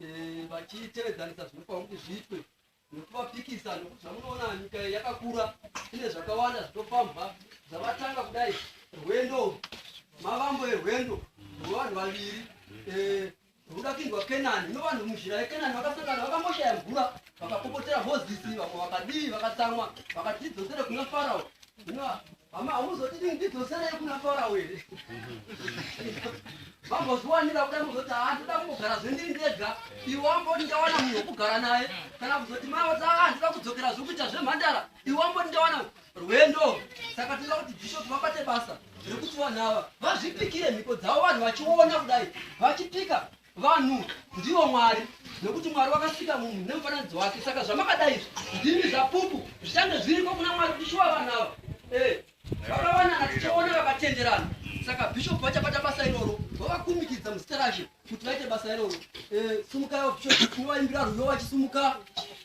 eh, vachitevedzanisa zvinofanira kuti zviitwe nekuvapikisa nokuti zvamunoona nyika yakakura ine zvakawanda zvinofambwa zvavatanga kudai rwendo mavambo erwendo rwevanhu vaviri eh, ruda kuindwa kenani ino vanhu muzhira yekenani vakasangana vakamboshaya mvura vakapopotera mozisi vamwe vakadii vakatsamwa vakatidzosere kuna farao Mama hamuzotidi ndidzosereyi kuna Farao here? Vambozviwanira kuda muzoti haa ah, ndoda kumbogara zvendiri ndega iwe wamboti ndawana munhu wekugara naye kana kuzoti mai vati haa ah, ndoda kudzokera zvekuita zvemhandara iwe wamboti ndawana rwendo saka tinoda kuti bishop vabate basa rekuti vanhu ava vazvipikire mhiko dzavo vanhu vachiona kudai vachipika Vanhu ndivo Mwari nekuti Mwari wakasika munhu nemufananidzo wake saka zvamakadai ndimi zvapupu zvichange zviriko kuna Mwari kuti shuwa vanhu ava eh, vakawanana tichaona vakatenderana saka bishop vachabata basa iroro vavakumikidza muzita rashe kuti vaite basa iroro eh, sumukai vabishop tinovayimbira rwiyo vachisumuka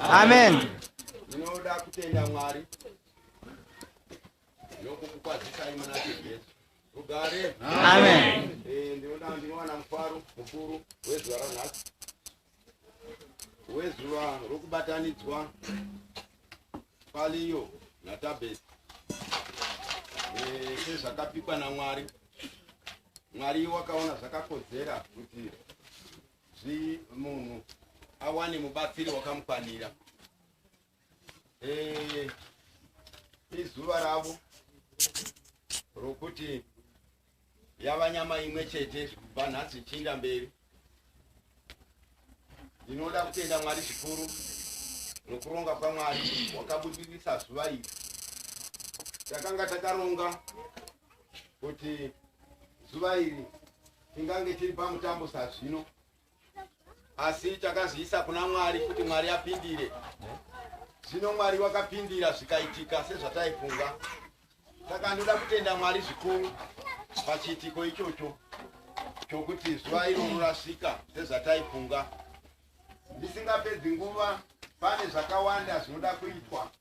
Amen. Ndinoda kutenda Mwari nokukukwazisai muna Jesu. Rugare. Amen. Eh, ndinoda ndinowana mufaro mukuru wezuva ranhasi. wezuva rokubatanidzwa paliyo natabesi eh, sezvakapikwa namwari mwari wakaona zvakakodzera kuti munhu awane mubatsiri wakamukwanira eh, izuva ravo rokuti yava nyama imwe chete kubva nhasi zvichiinda mberi ndinoda kutenda mwari zvikuru nokuronga kwamwari wakabudirisa zuva iri takanga takaronga kuti zuva iri tingange tiri pamutambo sazvino asi takazviisa kuna mwari kuti mwari apindire zvino mwari wakapindira zvikaitika sezvataifunga saka ndoda kutenda mwari zvikuru pachiitiko ichocho chokuti zuva iro rorasika sezvataifunga ndisingapedzi nguva pane zvakawanda zvinoda kuitwa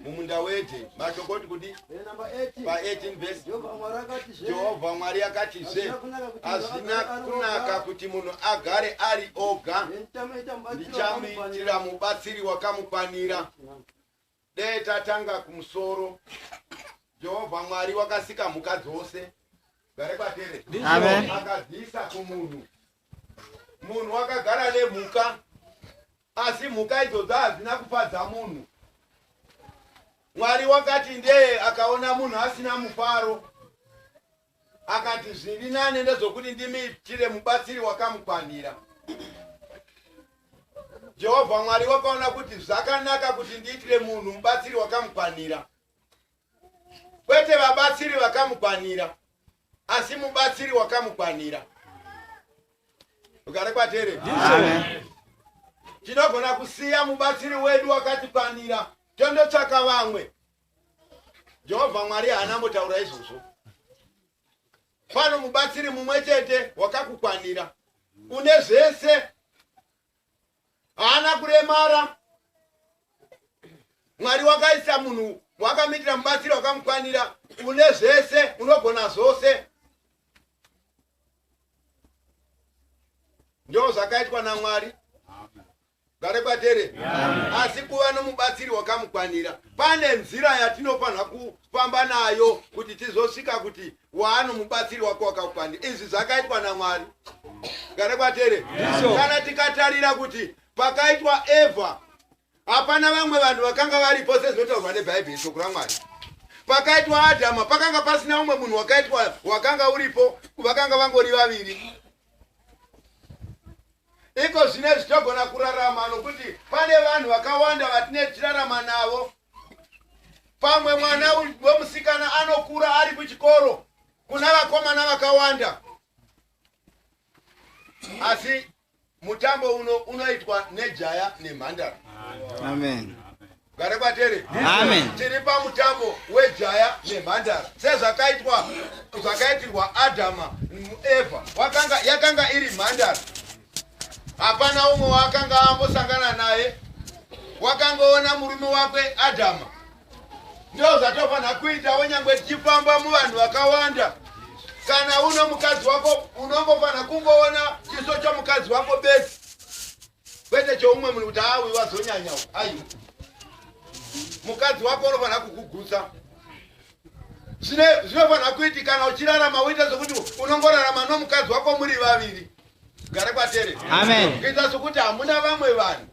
mumunda wete mashokoti kuti pa18 vhesi jehovha mwari akatizve hazvina kunaka kuti munhu agare ari oga ndichamuitira mubatsiri wakamukwanira dee tatanga kumusoro jehovha mwari wakasika mhuka dzose gare kwatere akadziisa kumunhu munhu wakagara nemhuka Asi mhuka idzodzo hadzina kupadza munhu. Mwari wakati ndee akaona munhu asina mufaro. Akati zviri nane ndezvokuti ndimiitire mubatsiri wakamukwanira. Jehovha Mwari wakaona kuti zvakanaka kuti ndiitire munhu mubatsiri wakamukwanira. Kwete vabatsiri vakamukwanira. asi mubatsiri wakamukwanira ugare kwatere tinogona kusiya mubatsiri wedu wakatikwanira tondotsvaka vamwe jehovha mwari haana mbotaura izvozvo pano mubatsiri mumwe chete wakakukwanira une zvese haana kuremara mwari wakaisa munhu wakamitira mubatsiri wakamukwanira une zvese unogona zvose ndo zvakaitwa namwari gare kwatere asi kuva nomubatsiri wakamukwanira pane nzira yatinofanira kufamba nayo kuti tizosvika kuti waano mubatsiri wako wakakwana izvi zvakaitwa namwari gare kwatere kana tikatarira kuti pakaitwa evha hapana vamwe vanhu vakanga varipo sezvinotaurwa nebhaibheri shoko ramwari pakaitwa adhama pakanga pasina umwe munhu wakaitwa wakanga uripo vakanga vangori vaviri Iko zvinezvi togona kurarama nokuti pane vanhu vakawanda vatine tichirarama navo. Pamwe mwana wemusikana anokura ari kuchikoro kuna vakomana vakawanda, asi mutambo uno unoitwa nejaya nemhandara. Amen. Gare kwatere. Amen. Tiri pamutambo wejaya nemhandara sezvakaitwa zvakaitirwa Adama Eva wakanga yakanga iri mhandara. Hapana umwe waakanga ambosangana naye wakangoona murume wakwe Adama. Ndoo zvatofanira kuita wenyangwe tichifamba muvanhu vakawanda kana uno mukadzi wako unongofanira kungoona chiso chomukadzi wako bedzi kwete choumwe munhu kuti haa uyu wazonyanya u aiwa mukadzi wako unofanira kukugutsa zvinofanira kuiti kana uchirarama uite zvokuti unongorarama nomukadzi wako muri vaviri gare kwatere kuita sokuti hamuna vamwe vanhu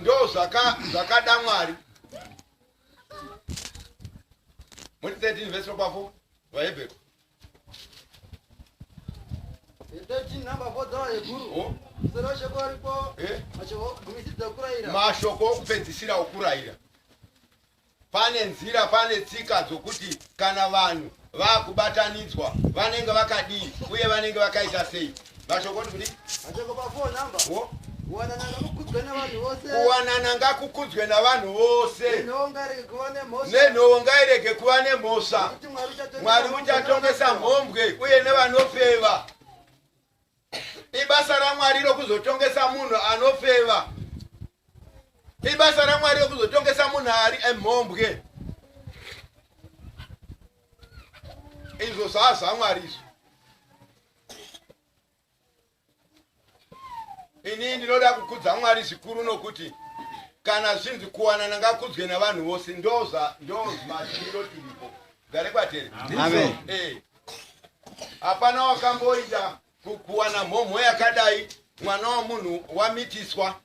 ndo zvakada mwari muri 13 vese rokwafo vahebhero mashoko okupedzisira okurayira pane nzira pane tsika dzokuti kana vanhu vakubatanidzwa vanenge vakadii uye vanenge vakaita sei vashokoti kudi vashoko pafo namba wo kuwanana ngakukudzwe navanhu vose nenhowo ngairege kuva nemhosva mwari uchatongesa mhombwe uye nevanofeva ibasa ramwari rokuzotongesa munhu anofeva ibasa ramwari rokuzotongesa munhu ari emhombwe izvo zvaazvamwari izvo ini ndinoda kukudza mwari zvikuru nokuti kana zvinzi kuwanana ngakudzwe navanhu vose ndoza ndozmashiro tiripo gare kwatere amen eh. hapana wakamboita kuwana mhomho yakadai mwana wamunhu wamitiswa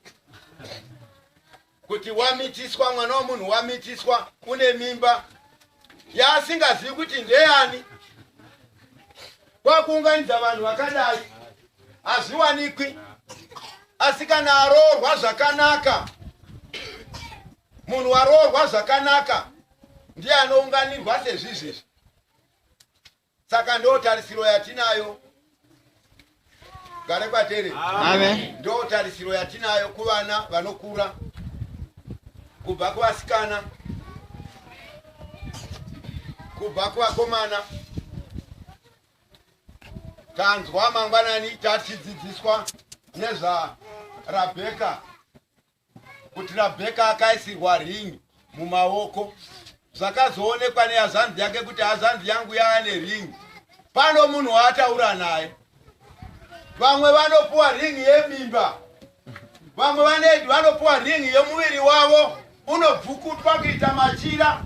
kuti wamitiswa mwana wemunhu wamitiswa une mimba yaasingazivi kuti ndeyani kwakuunganidza vanhu vakadai hazviwanikwi asi kana aroorwa zvakanaka munhu waroorwa zvakanaka ndiye anounganirwa sezvizvezvi saka ndo tarisiro yatinayo gare kwatere ndo tarisiro yatinayo kuvana vanokura kubva kuvasikana kubva kuvakomana tanzwa mangwanani tatidzidziswa nezvarabheka kuti rabheka akaisirwa ring mumaoko zvakazoonekwa nehazvanzi yake kuti hazvanzi yangu yaane ring pano munhu waataura naye vamwe vanopuwa ring yemimba vamwe vanedi vanopuwa ring yemuviri wavo unobvukutwa kuita machira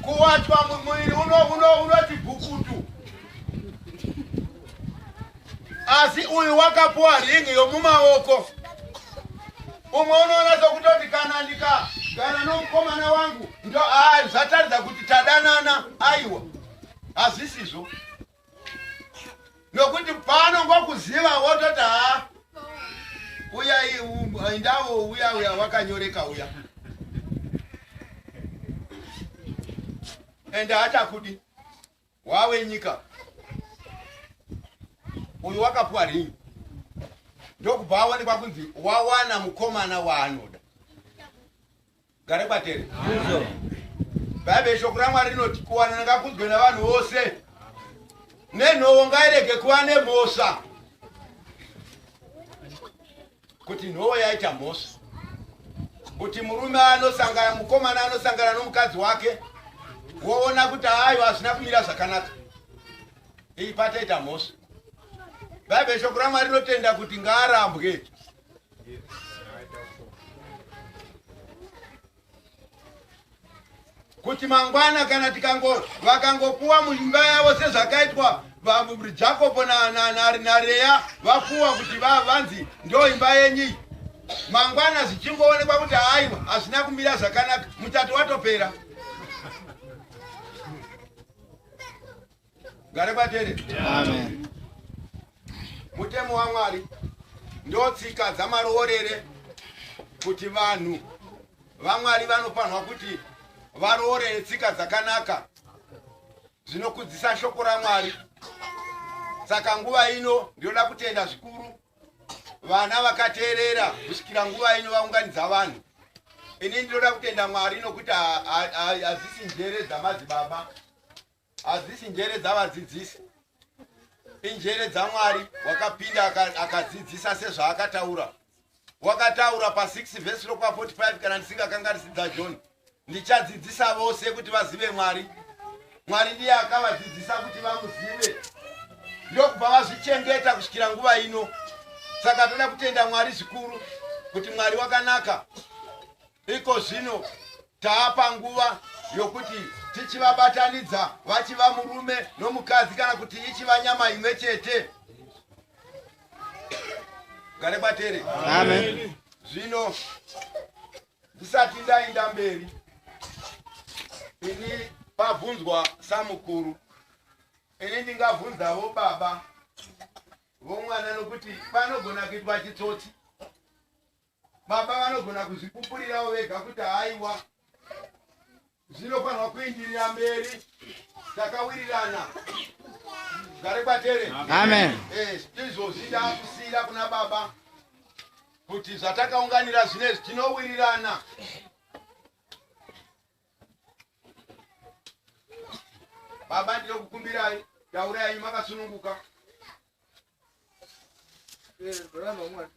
kuwachwa mumuviri unoti bvukutu asi uyu wakapuwa ring yomumaoko umwe unoona sokutoti kana ndikagara nomukomana wangu ndo a zvataridza kuti tadanana aiwa hazvisizvo nokuti pano ngokuziva wototi ha uya indavo uya uya wakanyoreka uya ende achakudi wawe nyika uyu wakapuwa ringi ndokubva aonekwa kunzi wawana mukomana waanoda gare kwatere bhaibheri shoko ramwari rinoti kuwanana ngakunzwe navanhu vose nenhowo ngairege kuva nemhosva kuti nhowo yaita mhosva kuti murume anosangana mukomana anosangana nomukadzi wake woona kuti ayo hazvina kumira zvakanaka iyi pataita mhosva bhaibheri shoko ramwari rinotenda kuti ngaarambwe kuti mangwana kana tikango vakangopuwa muimba yavo sezvakaitwa jakobo nareya vapuwa kuti vanzi ndo imba yenyi mangwana zvichingoonekwa kuti haiwa hazvina kumira zvakanaka mutato watopera gare batere amen mutemo wamwari ndotsika dzamaroorere kuti vanhu vamwari vanofanirwa kuti varoorere tsika dzakanaka zvinokudzisa shoko ramwari saka nguva ino ndinoda kutenda zvikuru vana vakateerera kusvikira nguva ino vaunganidza vanhu ini ndinoda kutenda mwari nokuti hazisi njere dzamadzibaba hadzisi njere dzavadzidzisi injere dzamwari wakapinda akadzidzisa sezvaakataura wakataura pa6 vhesi rokwa 45 kana ndisingakanga risidza john ndichadzidzisa vose kuti vazive mwari mwari ndiye akavadzidzisa kuti vamuzive ndokubva vazvichengeta kusvikira nguva ino saka toda kutenda mwari zvikuru kuti mwari wakanaka iko zvino taapa nguva yokuti tichivabatanidza vachiva murume nomukadzi kana kuti ichiva nyama imwe chete gare batere zvino ndisati ndainda mberi ini pabvunzwa samukuru ini ndingabvunzavo baba vomwana nokuti panogona kuitwa chitsotsi Baba vanogona kuzvipupurirawo vega kuti haiwa zvinofanirwa kuindirira mberi takawirirana gare kwatere amen eh, izvozvi ndakusiyira kuna baba kuti zvatakaunganira zvinezvi tinowirirana baba ndinokukumbirai taurai makasununguka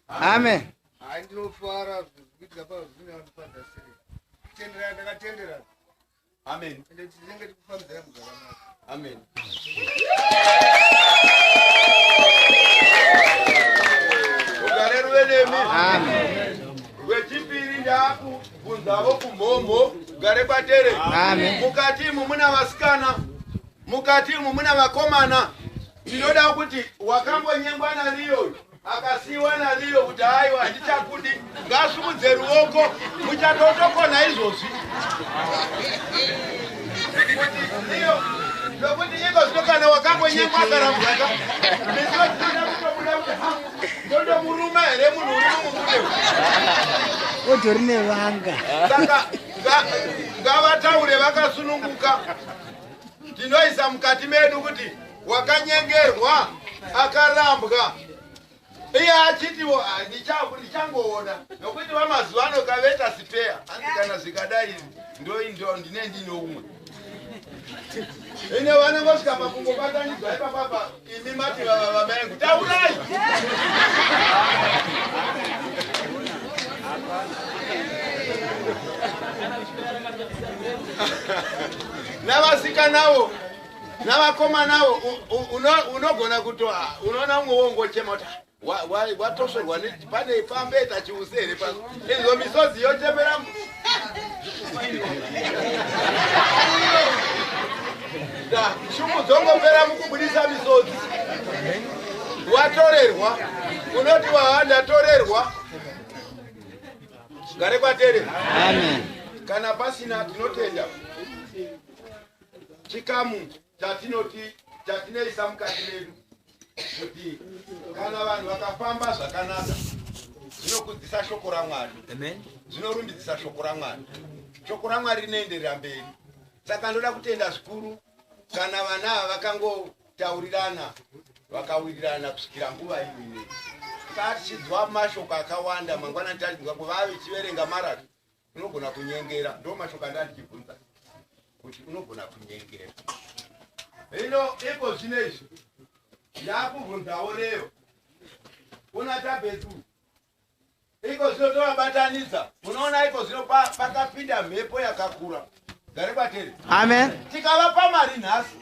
amen hai ndinofara zvikuitika pazvine vanofadza sei tendera ndakatendera amen ende tinenge tikufambira muzvakanaka Amen. gare kwatere mukati imu muna vasikana mukati imu muna vakomana ndinoda kuti wakambonyengwa nariyoyo Akasiiwa naLeo kuti aiwa handichakundi ngasumudze ruoko muchatotokona izvozvi zvokuti iko zvino kana wakambonyekwa akarambwaka ndinotoda kutobuda kuti ha ndondomuruma here munhu uri mumubude otori nevanga saka ngavataure vakasununguka tinoisa mukati medu kuti wakanyengerwa akarambwa iye achitiwo ah, ndichangoona nokuti vamazuva ano kaveta sipeya hanzi kana zvikadai ndoindo ndine ndine umwe ine vanongosvika pakungobatanidzwa ipapapa imi mati vava vamaengu taurai navasikanawo navakomanawo unogona kuto ah, unoona umwe wongochema kuti ah, watosorwa pane pambeta chiuse here pa inzwa misodzi yochemera shumu dzongopera mukubudisa misodzi watorerwa unoti waha ndatorerwa gare kwatere kana pasina tinotenda chikamu chatinoti chatineisa mukati medu kuti kana vanhu vakafamba zvakanaka zvinokudzisa shoko ramwari zvinorumbidzisa shoko ramwari shoko ramwari rinoenderera mberi saka ndoda kutenda zvikuru kana vana ava vakangotaurirana vakawirirana kusvikira nguva imine kaa tichidzwa mashoko akawanda mangwana tatidzwa kuvave chiverenga marato Unogona kunyengera ndomashoko anda ndichibvunza kuti unogona kunyengera. Hino iko zvino izvi ndakubvunzawo leo una tabetu iko zvino tovabatanidza unoona iko zvino pakapinda mhepo yakakura gare kwateri amen tikavapa mari nhasi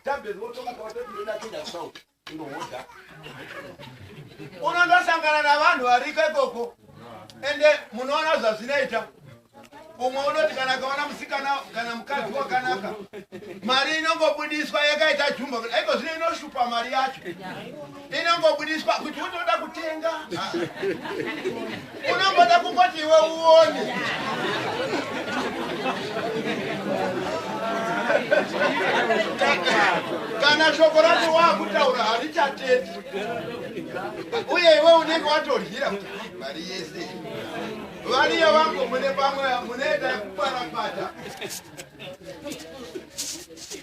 tabetu wotomuka watotindoda kuenda kusauti unondosangana navanhu variko ikoko ende munoona zvazvinoita umwe unoti kana akaona musikana kana mukadzi wakanaka mari inongobudiswa yakaita jumba kuti aiko zvino inoshupa mari yacho inongobudiswa kuti unoda kutenga Unongoda kungoti iwe uone. kana shoko racho waakutaura harichateti uye iwe unenge watoryira kuti mari yese variyo vangu mune pamwe munoita yekuparapata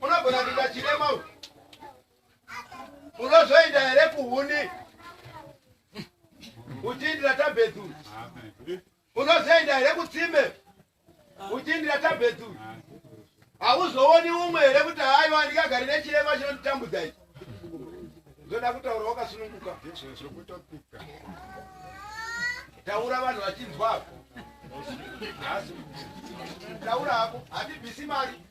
Unogona kuita chirema uyu. Unozoenda here kuhuni? Uchiindira tabhetu. Unozoenda here kutsime? Uchiindira tabhetu. Hauzooni umwe here kuti haiwa ndikagari nechirema chinonditambudza ichi. Zoda kutaura wakasununguka. Taura vanhu vachinzwa. Taura hako, hatibvisi mari.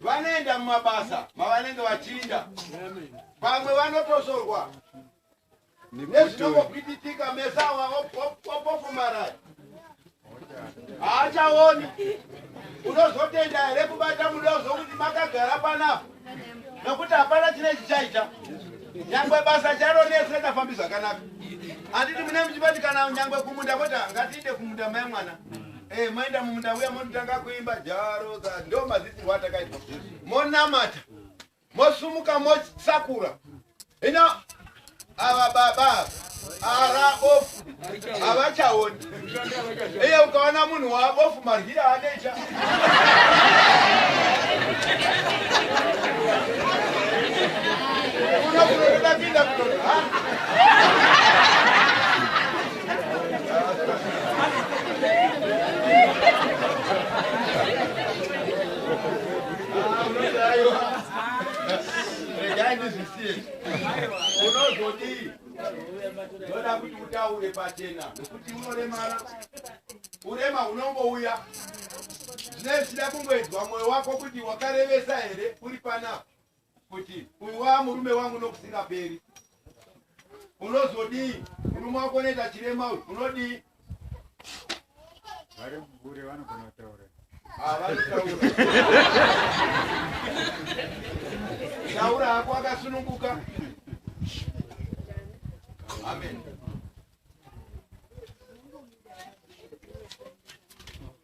vanoenda mumabasa mavanenge vachinda vamwe vanotozorwa nezvinongopititika meso awa opofumaraya haachaoni unozotenda here kubata muda uzokuti makagara panapa nokuti hapana chine chichaita nyangwe basa charo nese tafambi zvakanaka handiti mune muchibatikana nyangwe kumunda koti ngatiite kumunda mai mwana Eh, maenda mumunda uya monotanga kuimba jaro dza ndo madzidzirwa atakaitwa monamata mosumuka mosakura ino ava baba ara ofu havachaoni iye ukaona munhu waabofu maryira anecha unokunotoda kuinda kunoa unozodii ndoda kuti utaure pachena nokuti unoremara urema hunongouya zvinee zvichida kungoedzwa mwoyo wako kuti wakarevesa here uri panapa kuti uyu waa murume wangu nokusingaperi unozodii murume wako unoita chirema uyu unodii vari mubure vanogona kutaura Ah, vanotaura taura hako akasununguka amen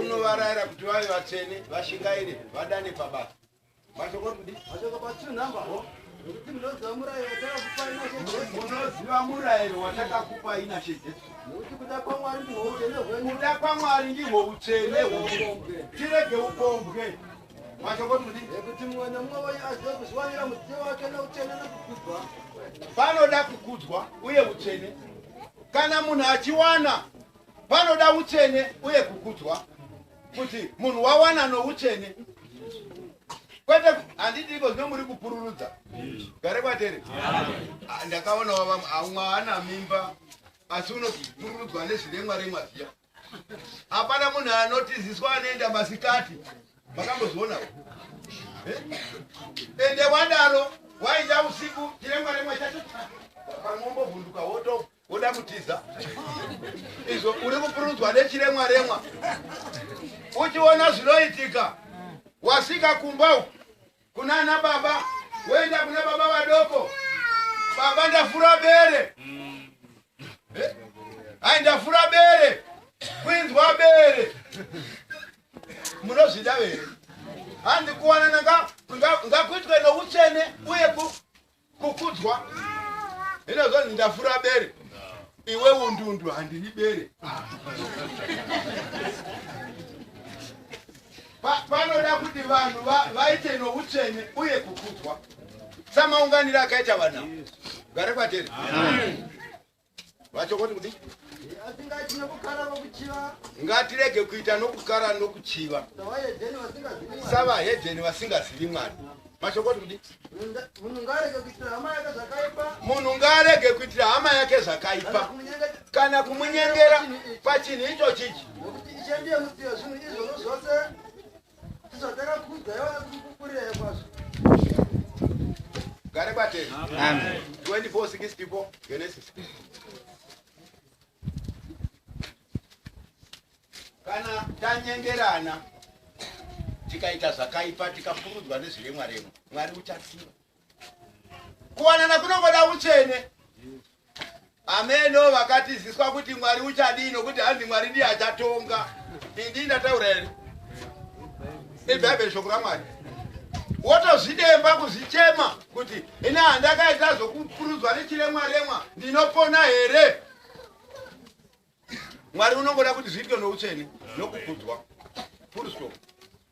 unovarayira kuti vave vatsvene vashingaire vadane pabasa unoziva murayiro watakakupa ina shejesu kuda kwamwari ndihwo utsvene hwedu tirege upombwe panoda kukudzwa uye utsvene kana munhu achiwana panoda utsvene uye kukudzwa kuti munhu wawana noutsvene kwete handidiko zvino muri kupururudza gare kwatere ah, ndakaona wava aumwe haana mimba asi unopururudzwa nezviremwa remwa zviya hapana munhu anotiziswa anoenda masikati makambozviona eh? ende wadaro wainda usiku chiremwa remwa chacho pamwombovhunduka woto woda kutiza izvo uri kupurudzwa nechiremwa remwa uchiona zvinoitika wasvika kumba uku kunana baba woenda kuna baba vadoko baba ndafura bere Eh, ai ndafura bere kwinzwa bere munozvida here handi kuwanana nga- nga- ngakuitwe noutsvene uye ku- kukudzwa hino zvanzi ndafura bere iwe undundu handiri bere panoda kuti vanhu vaite noutsvene uye kukudzwa samaunganiro akaita vana gare kwateri vachokoti kuti ngatirege kuita nokukara nokuchiva savahedheni vasingazivi mwari mashokoti kuti munhu ngaarege kuitira hama yake zvakaipa kana kumunyengera pachinhu icho chichi Gare bate. Amen. 24 6 people Genesis. Kana tanyengerana tikaita zvakaipa tikapurudzwa nezviremwa remwa Mwari uchatsiva. kuwanana kunongoda uchene ameno vakatiziswa kuti mwari uchadii nokuti hanzi mwari ndiye achatonga indii ndataura here ibhaibheri shoko ramwari wotozvidemba kuzvichema kuti ini handakaita zvokupurudzwa nechiremwa remwa ndinopona here mwari unongoda kuti zviitwe noutsvene nokukudzwa full stop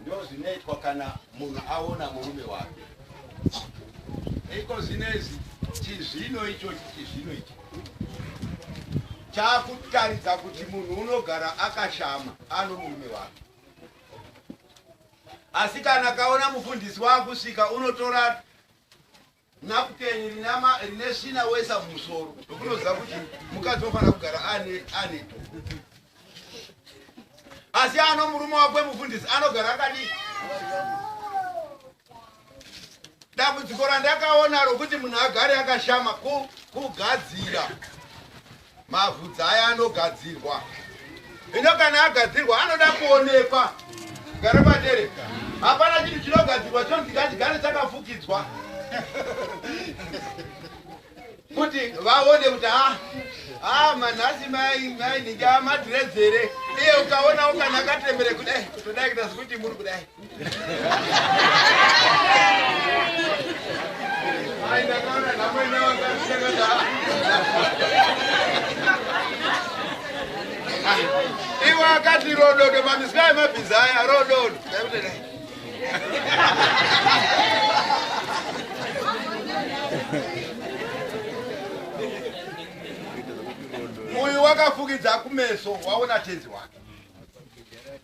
ndozvinoitwa kana munhu aona murume wake iko zvinezi chizvino ichochi chizvino ichi chaakutaridza kuti munhu unogara akashama ano murume wake asi kana kaona mufundisi waakusvika unotora napukeni rinama rine svina wesa musoro nokunoziva kuti mukadzi ofanira kugara ane ane asi ano murume wakwe mufundisi anogara akadii dambudziko randakaona rokuti munhu agare akashama kugadzira Mavhudzi aya anogadzirwa ino kana agadzirwa anoda kuonekwa gara patere hapana chinhu chinogadzirwa chonzi ngachigare chakafukidzwa kuti vaone kuti ha ha manhasi maininge amadhiredzere iye ukaona ukana akatrembere kudai kutodai kuita sekuti muri kudai iwe akati rododo mamisika emabhiza aya rododo uyu wakafukidza kumeso waona tenzi wake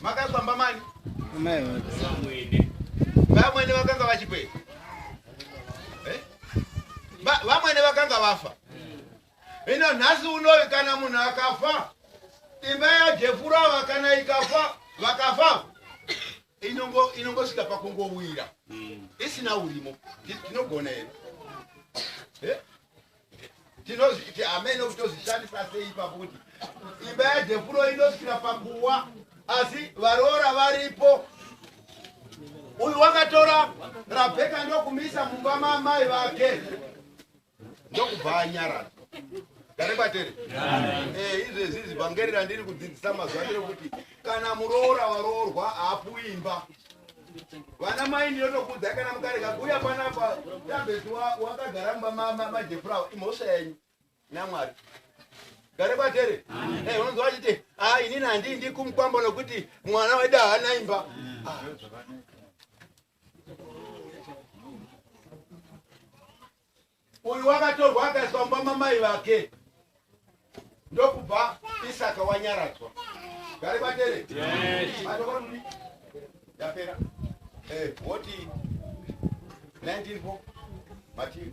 Makakwamba mani? Amai vake. Vamwene vakanga vachipei? Eh? Vamwene vakanga vafa. Ino nhasi unowi kana munhu akafa imba yajefurava kana ikafa vakafa inongo inongosvika pakungowira mm. isina urimo tinogona here eh? tinozviti amene kuti tozvishandisa sei ipapo kuti imba yadhepuro inosvikira panguva asi varoora varipo uyu wakatora rabheka ndokumisa mumba maamai vake ndokubva anyarara gare kwatere izvezvi zivhangeri randiri kudzidzisa mazuva ndere kuti kana muroora waroorwa haapuwi imba vana mai ndinotokudzai kana mukarega kuuya panapa tabheti wakagara mumba majefurawa imhosva yenyu namwari gare kwatere eh, unonzwa vachiti a ah, inini handii ndikumukwambo nokuti mwana wedu haana imba ah. Uyu wakatorwa akaiswa mumba mamai vake ndokubva Isaka wanyaradzwa. Gari batere. Yes. Madokoro muni. Yapera. Eh, woti 19 Mativi.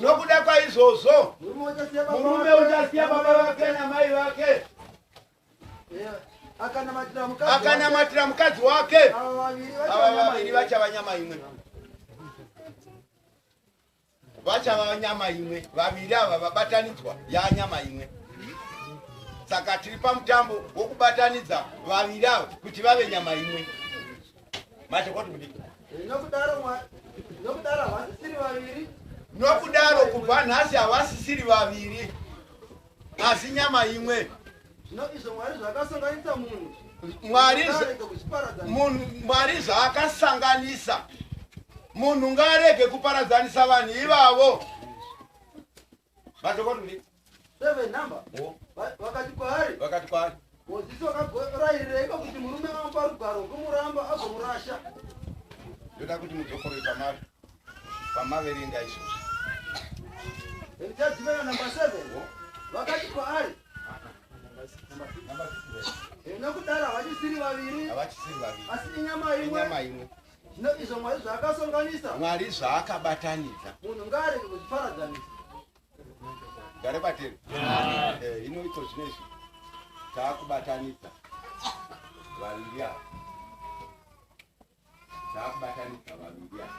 nokuda kwaizvozvo murume uchasiya baba vake namai vake akanamatira mukadzi wake ava vaviri vachava nyama imwe vachava nyama imwe vaviri ava vabatanidzwa yaa nyama imwe saka tiri pamutambo wokubatanidza vaviri ava kuti vave nyama imwe nokudaro kubva nhasi havasisiri vaviri asi nyama imwe mwari zvaakasanganisa munhu ngaarege kuparadzanisa vanhu ivavo vakati kwaari vakati kwaari mozisi wakarairireiko kuti murume amupa rugwaro rwomuramba agomurasha ndoda kuti mudzokoroi pamave pamaverenga izvozvo ndichadzimena namba seven vakati kwaari nokudaro havachisiri vaviri asi inyama imwe Zvino izvo Mwari zvaakasonganisa. Mwari zvaakabatanidza. Munhu ngaarege kuzviparadzanisa. Gare bateri. Eh, hino iko zvinezvi taakubatanidza vaviri ava. Taakubatanidza vaviri ava.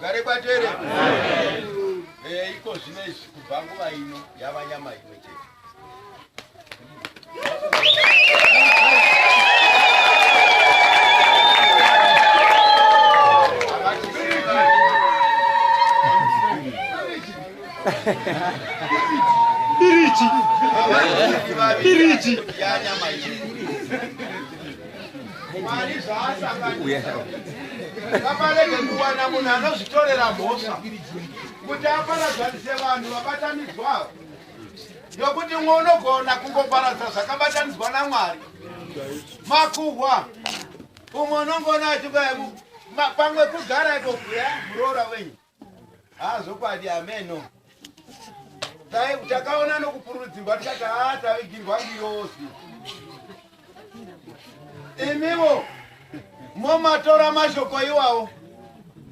gare kwatere eh, iko zvino izvi kubva nguva ino yava nyama imwe chete Piriti. Piriti. vaparege kuwana munhu anozvitorera mhosva kuti aparadzanise vanhu vabatanidzwavo yokuti mwe unogona kungoparadza zvakabatanidzwa namwari makuhwa umwe unongona achikuya pamwe kugara ikokuya muroora wenyu haazokwadi ameno takaona nokupururudzirwa tikati haa tavigirwa ngiyozi imiwo momatora mashoko iwawo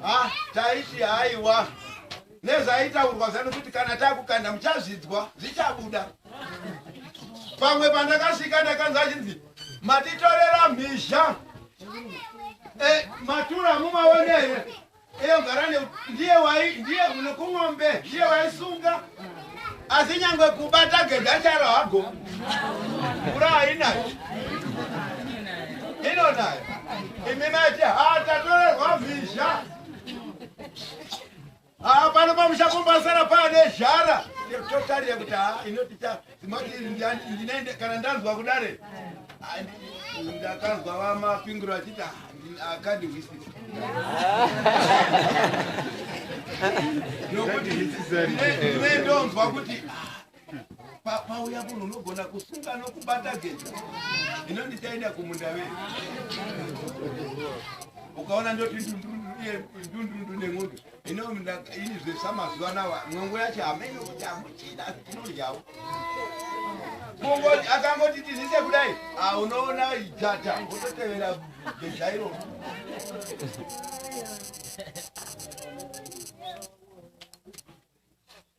ha taiti haiwa nezvaitaurwa zano kuti kana takukanda muchazvidzwa zvichabuda pamwe pandakasvika ndakanzi achinzi matitorera mhizha e, matura mumaone here iyo garane ndiye wai ndiye unokumombe ndiye waisunga asi nyangwe kubata gedha charo hago ura hainayo ino nayo imi mati hatatorerwa mhizha Ah, pano pamusha pombasara pane zhara totarira kuti ha ah, inoti ndinaende kana ndanzwa kudare ndakanzwa vamapingiro vachiti akandi hwisi nokuti ndinendonzwa kuti pauya munhu unogona kusunga nokubata geja ino ndichaenda kumunda vei ukaona ndoti ndundundu nen'undu ino ini zvesa mazuva nawa n'ongo yacho hameno kuti hamuchina tinodyawo akangoti tizise kudai ah, unoona jata ototevera geja iroo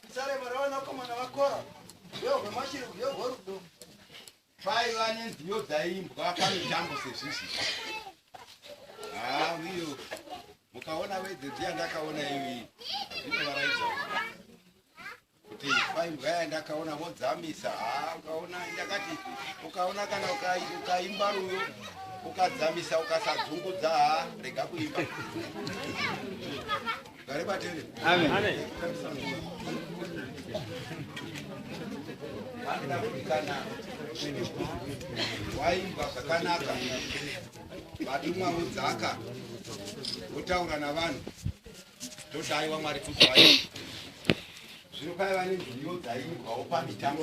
Tichareva ravanakomana vakora ndiyo hwemashiri ndiyo hwerudo paiva nenziyo dzaimbwa pamitambo sezvizvi haa uyo mukaona vedzedzi yandakaona iyoyi ndinovaraidza kuti paimbwa yandakaona vodzamisa haa ukaona ndakati ukaona kana ukaimba ruyo ukadzamisa ukasadzungudza haa rega kuimba waimbwa zvakanaka vatumwa vodzaka votaura navanhu todaiwa mwari kuzwai zvino paiva nenziyo dzaimbwawo pamitambo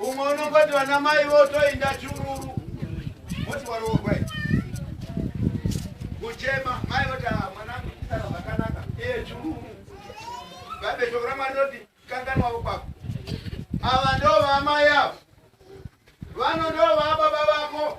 umwe unongoti vana mai votoinda chururu voti waroorwa kuchema mai voti ah, mwanangu isara zvakanaka iye chururu bhaibheri shoko ramwari roti kanganwavo kwako ava ndovamai avo vano ndovababa vako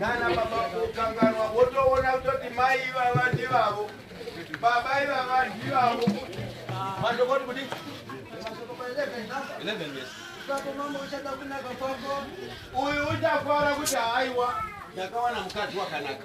nana baba kukanganwa wotoona kutoti mai ivava ndivavo baba ivava ndivavo mandokoti kuti uyu uchafara kuti haiwa ndakawana mukadzi wakanaka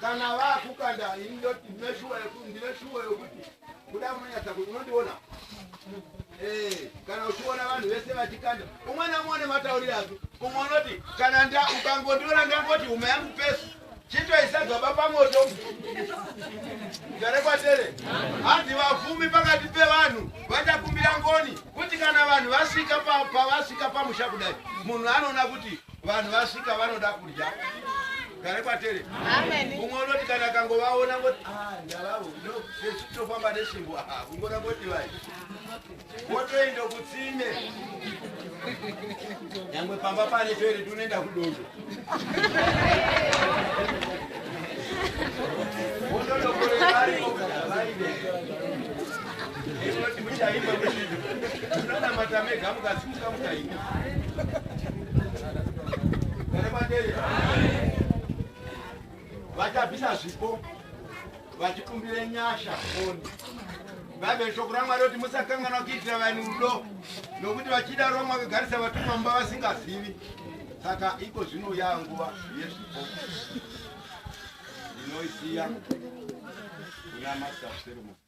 kana vakukanda ini ndoti ndine shuwa yekuti ndine shuwa yekuti kuda munonyatsa kuti unondiona eh, kana uchiona vanhu vese vachikanda umwe namwe une matauriro ake umwe unoti kana nda ukangondiona ndangoti huma yangu pesi chitoisa gaba pamoto garekwatere hanzi vafumi pakati pevanhu vachakumbira ngoni kuti kana vanhu vasvika pavasvika pamusha kudai munhu anoona kuti vanhu vasvika vanoda kudya gare kwatere umwe unoti kana kangovaona ngoti ah, ndavavo ndotofamba nesvimbo ah, kungona koti vai wotoenda kutsime nyangwe pamba pane toere tunoenda kudondo wototokoreaaimuchaimba muchido unonamata mega mukasimuka mukaima vachabvisa zvipo vachikumbire nyasha oni bhaibheri shoko ramwari kuti musakanganwa kuitira vanhu rudo nokuti vachida roma vakagarisa vatumwa mumba vasingazivi saka iko zvinouya nguva yezvipo inoisiya kuna master ceremony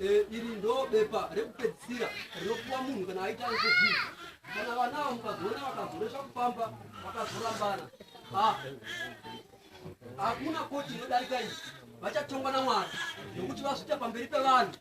Eh, iri ndo bepa rekupedzisira rinopuwa munhu kana aita interview kana vanawo mukazoona vakazoresva kufamba vakazorambana ah, hakuna koti inodarika iyi vachatongwa namwari nokuti vazvita pamberi pevanhu